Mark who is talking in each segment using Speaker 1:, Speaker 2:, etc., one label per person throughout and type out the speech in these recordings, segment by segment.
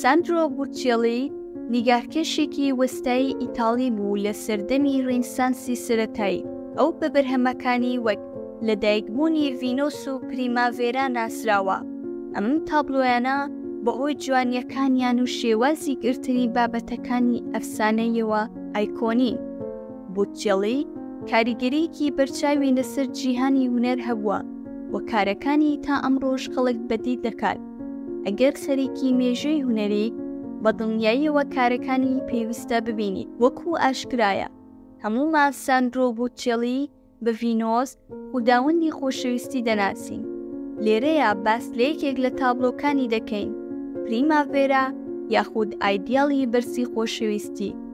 Speaker 1: ساندرۆ بوتیێلی نیگارکێشێکی وەستایی ئیتاڵی بوو لە سەردەمی ڕینسانسی سەرەتایی، ئەو بە بەرهەمەکانی وەک لەدایکبوونی ڤینۆس و پریماڤێرا ناسراوە، ئەم تابلۆیانە بەهۆی جوانییەکانیان و شێوازی گرتنی بابەتەکانی ئەفسانەییەوە ئایکۆنین. بوتیێلی کاریگەرییەکی بەرچاوی لەسەر جیهانی هونەر هەبووە و کارەکانی تا ئەمڕۆش خەڵک بەدی دەکات. ئەگەر خەریکی مێژووی هونەریت، بە دڵنیاییەوە کارەکانی پێویستە ببینیت. وەکو ئاشکرایە، هەموو مان ساندرۆ بۆتچێڵی بە ڤینۆس، خوداوەندی خۆشەویستی دەناسین. لێرەیا باس لە یەکێک لە تابڵۆکانی دەکەین، پریماڤێرا یاخود ئایدیاڵی بەرزی خۆشەویستی.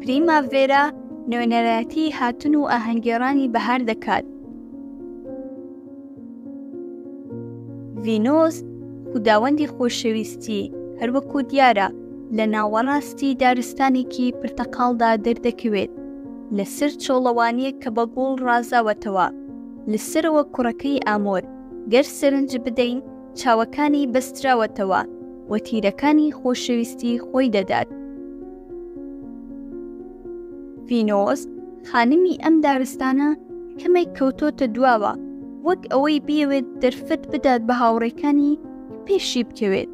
Speaker 1: پریما ڤێرا نوێنەرایەتی هاتن و ئاهەنگێڕانی بەهار دەکات ڤینۆس خوداوەندی خۆشەویستی هەروەکو دیارە لە ناوەڕاستی دارستانێکی پرتەقاڵدا دەردەکەوێت لەسەر چۆڵەوانیە کە بە گوڵ ڕازاوەتەوە لەسەرەوە کوڕەکەی ئامۆر گەر سەرنج بدەین چاوەکانی بەستراوەتەوە و تیرەکانی خۆشەویستی خۆی دەدات. ڤینۆس، خانمی ئەم دارستانە، کەمێک کەوتۆتە دواوە، وەک ئەوەی بیەوێت دەرفەت بدات بە هاوڕێکانی پێشی بکەوێت.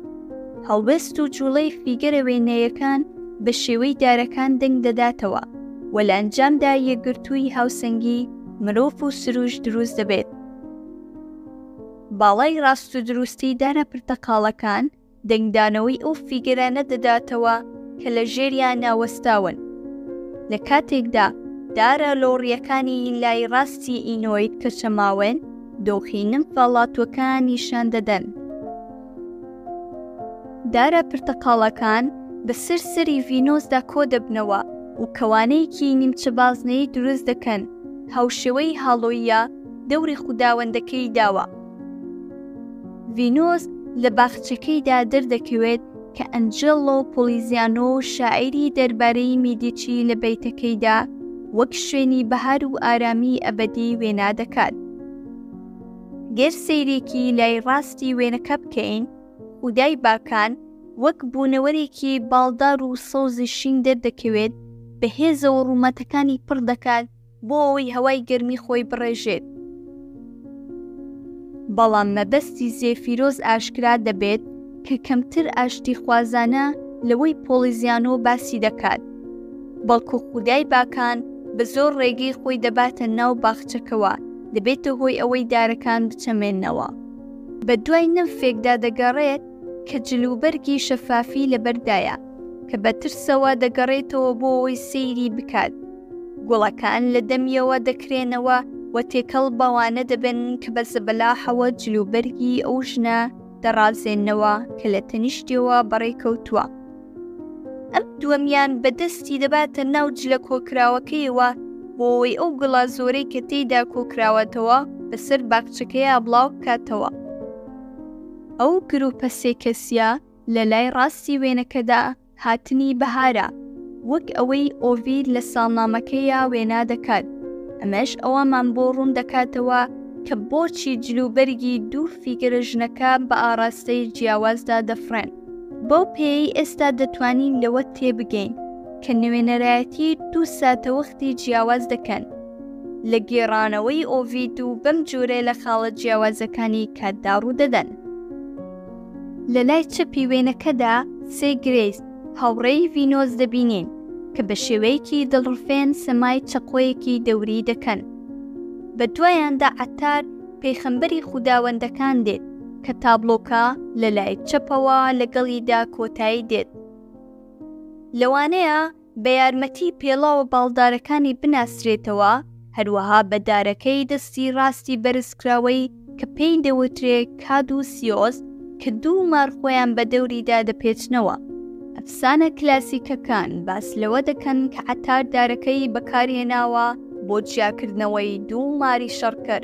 Speaker 1: هەڵوێست و جوڵەی فیگەرە وێنەیەکان بە شێوەی دارەکان دەنگ دەداتەوە و لە ئەنجامدا یەکگرتووی هاوسەنگی مرۆڤ و سروش دروست دەبێت. باڵای ڕاست و دروستی دارە پرتەقاڵەکان دەنگدانەوەی ئەو فیگەرانە دەداتەوە کە لە ژێریاندا وەستاون، لە کاتێکدا دارە لۆڕییەکانی لای ڕاستی ئینۆید کە چەماوەن، دۆخی نمفە ڵاتووەکان نیشان دەدەن. دارە پرتەقاڵەکان بەسەر سەری ڤینۆسدا کۆ دەبنەوە و کەوانەیەکی نیمچە بازنەیی دروست دەکەن، هاوشێوەی هاڵۆییە، دەوری خوداوەندەکەی داوە. ڤینۆس لە باخچەکەیدا دەردەکەوێت کە ئەنجێلۆ پۆلیزیانۆ شاعیری دەربارەی میدیچی لە بەیتەکەیدا وەک شوێنی بەهار و ئارامی ئەبەدی وێنا دەکات. گەر سەیرێکی لای ڕاستی وێنەکە بکەین، خودای باکان وەک بوونەوەرێکی باڵدار و سەوزی شین دەردەکەوێت، بە هێزە و ڕوومەتەکانی پڕ دەکات، بۆ ئەوەی هەوای گەرمی خۆی بڕێژێت. بەڵام مەبەستی زێفیرۆز ئاشکرا دەبێت کە کەمتر ئاشتیخوازانە لەوەی پۆڵیزیانۆ باسی دەکات، بەڵکو خودای باکان بە زۆر ڕێگەی خۆی دەباتە ناو باخچەکەوە، دەبێتە هۆی ئەوەی دارەکان بچەمێننەوە. بەدوای نمفێکدا دەگەڕێت کە جلوبەرگی شەفافی لەبەردایە. کە بە ترسەوە دەگەڕێتەوە بۆ ئەوەی سەیری بکات. گوڵەکان لە دەمیەوە دەکرێنەوە و تێکەڵ بەوانە دەبن کە بە زەبەلاحەوە جلوبەرگی ئەو ژنە دەڕازێنەوە کە لە تەنیشتیەوە بەڕێکەوتووە. ئەم دووەمیان بە دەستی دەباتە ناو جلە کۆکراوەکەیەوە بۆ ئەوەی ئەو گڵە زۆرەی کە تێیدا کۆکراوەتەوە بەسەر باخچەکەیا بڵاو بکاتەوە. ئەو گرووپە سێ کەسییە، لە لای ڕاستی وێنەکەدا هاتنی بەهارە، وەک ئەوەی ئۆڤید لە ساڵنامەکەیا وێنا دەکات، ئەمەش ئەوەمان بۆ ڕوون دەکاتەوە کە بۆچی جلوبەرگی دوو فیگەرە ژنەکە بە ئاڕاستەی جیاوازدا دەفڕێن. بەو پێیەی ئێستا دەتوانین لەوە تێبگەین کە نوێنەرایەتی دوو ساتەوەختی جیاواز دەکەن لە گێڕانەوەی ئۆڤید و بەم جۆرە لە خاڵە جیاوازەکانی کاتدا ڕوو دەدەن. لە لای چەپی وێنەکەدا سێ گرێس هاوڕێی ڤینۆس دەبینین کە بە شێوەیەکی دڵڕفێن سەمای چەقۆیەکی دەوری دەکەن. بە دوایاندا عەتار پێخەمبەری خوداوەندەکان دێت کە تابڵۆکە لە لای چەپەوە لەگەڵیدا کۆتایی دێت. لەوانەیە بە یارمەتی پێڵاوە باڵدارەکانی بناسرێتەوە، هەروەها بە دارەکەی دەستی ڕاستی بەرزکراوەی کە پێی دەوترێ کادوسیۆس کە دوو مار خۆیان بە دەوریدا دەپێچنەوە. ئەفسانە کلاسیکەکان باس لەوە دەکەن کە عەتار دارەکەی بەکارهێناوە بۆ جیاکردنەوەی دوو ماری شەڕکەر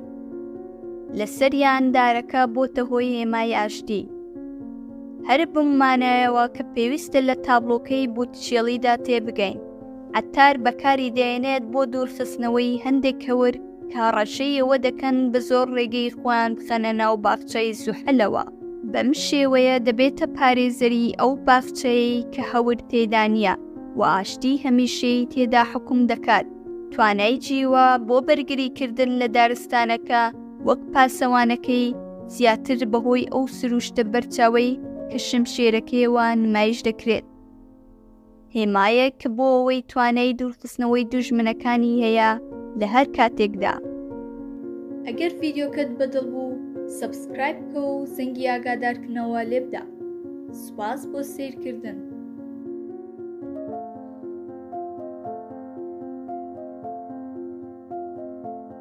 Speaker 1: لەسەریان، دارەکە بۆتە هۆی هێمای ئاشتی. هەر بەم مانایەوە کە پێویستە لە تابڵۆکەی بوتچێڵیدا تێبگەین، عەتار بەکاری دەێنێت بۆ دوورخستنەوەی هەندێک هەور کە هەڕەشەی ئەوە دەکەن بە زۆر ڕێگەی خۆیان بخەنە ناو باخچەی زوحەلەوە، بەم شێوەیە دەبێتە پارێزەری ئەو باخچەیەی کە هەور تێدا نییە و ئاشتیی هەمیشەیی تێدا حوکم دەکات، توانای جیوە بۆ بەرگریکردن لە دارستانەکە، وەک پاسەوانەکەی، زیاتر بەهۆی ئەو سروشتە بەرچاوەی کە شمشێرەکەیەوە نمایش دەکرێت. هێمایە کە بۆ ئەوەی توانای دوورخستنەوەی دوژمنەکانی هەیە لە هەر کاتێکدا. ئەگەر ڤیدیۆکەت بەدڵ بوو سەبسکرایب بکە و زەنگی ئاگادارکردنەوە لێبدە. سوپاس بۆ سەیرکردن.